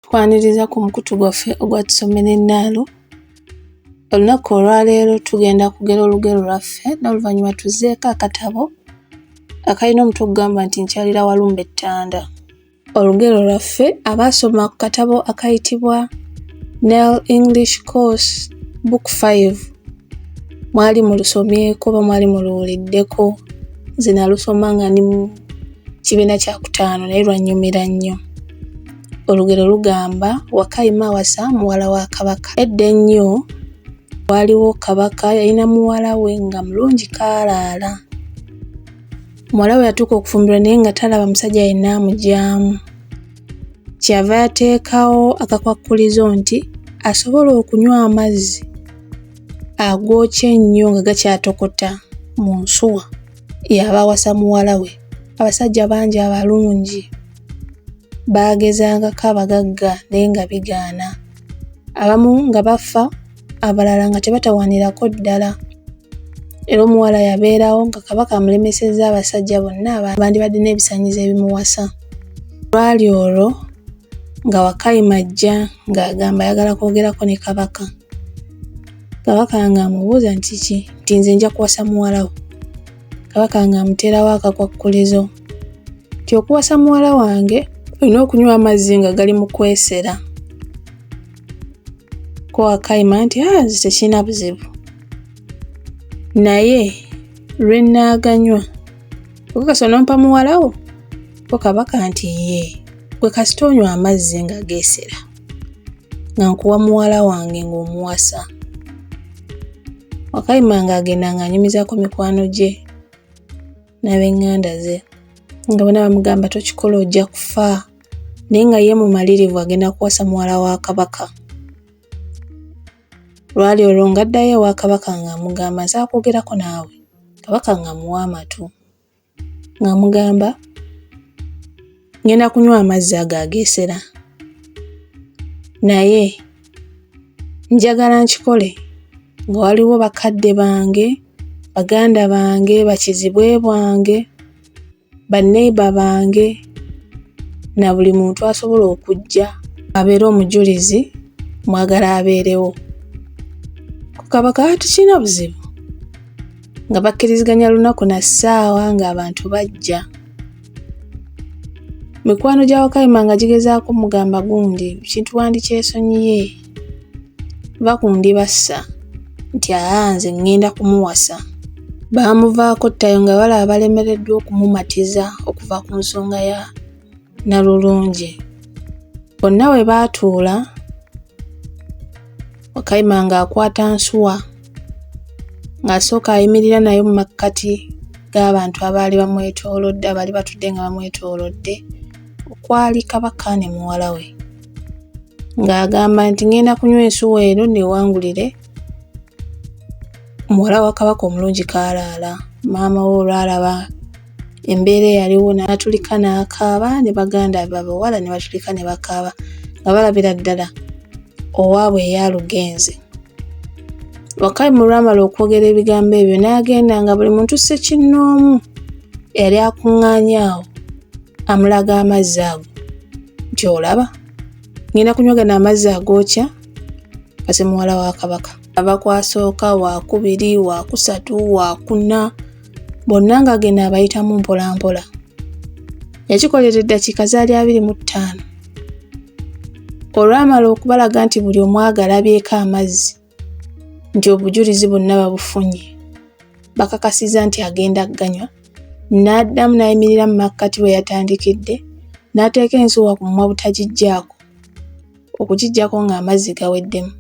Tukwaniriza ku mukutu gwaffe ogwa tusomera ennaalo. Olunaku olwaleero tugenda kugera olugero lwaffe n'oluvannyuma tuzzeeko akatabo akalina omutwe okugamba nti nkyalira walumba ettanda. Olugero lwaffe abaasoma ku katabo akayitibwa Nel English Course Book 5 mwali mulusomyeko oba mwali muluwuliddeko nze nalusoma nga ndi kibiina kya kutaano naye lwannyumira nnyo olugero lugamba wakayima awasa muwala wa kabaka edda ennyo waaliwo kabaka yalina muwala we nga mulungi kaalaala muwala we yatuuka okufumbirwa naye nga talaba musajja yenna amugyamu kyeyava yateekawo akakwakkulizo nti asobola okunywa amazzi agookya ennyo nga gakyatokota mu nsuwa yabawasa muwala we abasajja bangi abalungi baagezangako abagagga naye nga bigaana abamu nga bafa abalala nga tebatawanirako ddala era omuwala yabeerawo nga kabaka amulemesezza abasajja bonna bandibadde n'ebisanyizo ebimuwasa lwali olwo nga wakayima ajja ng'agamba ayagala kwogerako ne kabaka Kabaka nga amubuuza nti kiki nti nze nja kuwasa muwala wo. Kabaka nga amuteerawo akakwakkulizo nti okuwasa muwala wange olina okunywa amazzi nga gali mu kwesera. Ko akayima nti aa ah, nze tekirina buzibu naye lwe nnaaganywa okakasa onompa muwala wo ko kabaka nti yee gwe kasita onywa amazzi nga geesera. nga nkuwa muwala wange ng'omuwasa wakayima nga agenda ng'anyumizako mikwano gye n'abenganda ze nga bona bamugamba tokikola ojja kufa naye nga ye mumalirivu agenda kuwasa muwala wa kabaka lwali olwo ng'addayo ewa kabaka ng'amugamba nsaakwogerako naawe kabaka ng'amuwa amatu ng'amugamba ngenda kunywa amazzi ago ageesera naye njagala nkikole nga waliwo bakadde bange baganda bange bakizibwe bwange baneiba bange na buli muntu asobola okujja abeere omujulizi mwagala abeerewo ku kaba kaba tukirina buzibu nga bakkiriziganya lunaku na ssaawa ng'abantu bajja mikwano gya wakayima nga gigezaako mugamba gundi kintu wandikyesonyiye va ku ndi bassa nti aa nze ŋŋenda kumuwasa baamuvaako ttayo nga balaba balemereddwa okumumatiza okuva ku nsonga ya Nalulungi. Bonna we baatuula, Wakayima ng'akwata nsuwa ng'asooka ayimirira nayo mu makkati g'abantu abaali bamwetoolodde abaali batudde nga bamwetoolodde okwali kabaka ne muwala we ng'agamba nti ngenda kunywa ensuwa eno newangulire muwala wa kabaka omulungi kaalaala maama we olwalaba embeera eyaliwo n'atulika n'akaaba ne baganda be abawala ne batulika ne bakaaba nga balabira ddala owaabwe eyalugenze wakali mu lwamala okwogera ebigambo ebyo n'agenda nga buli muntu ssekinnoomu eyali akuŋŋaanya awo amulaga amazzi ago nti olaba ngenda kunyoga n'amazzi agookya kase muwala wa kabaka ava kwasooka wakubiri wakusatu wakuna bonna ng'agenda abayitamu mpolampola yakikolera eddakiika zaali abiri mu ttaano olwamala okubalaga nti buli omu agalabyeko amazzi nti obujulizi bonna babufunye bakakasiza nti agenda kuganywa n'addamu n'ayimirira mu makkati bwe yatandikidde n'ateeka ensuwa ku mumwa butagiggyaako okugiggyako ng'amazzi gaweddemu.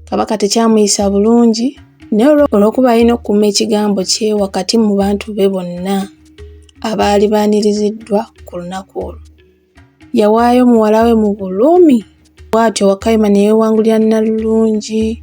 Kabaka tekyamuyisa bulungi naye olw'okuba alina okukuuma ekigambo kye wakati mu bantu be bonna abaali baaniriziddwa ku lunaku olwo. Yawaayo muwala we mu bulumi bw'atyo Wakayima ne yeewangulira Nnalulungi.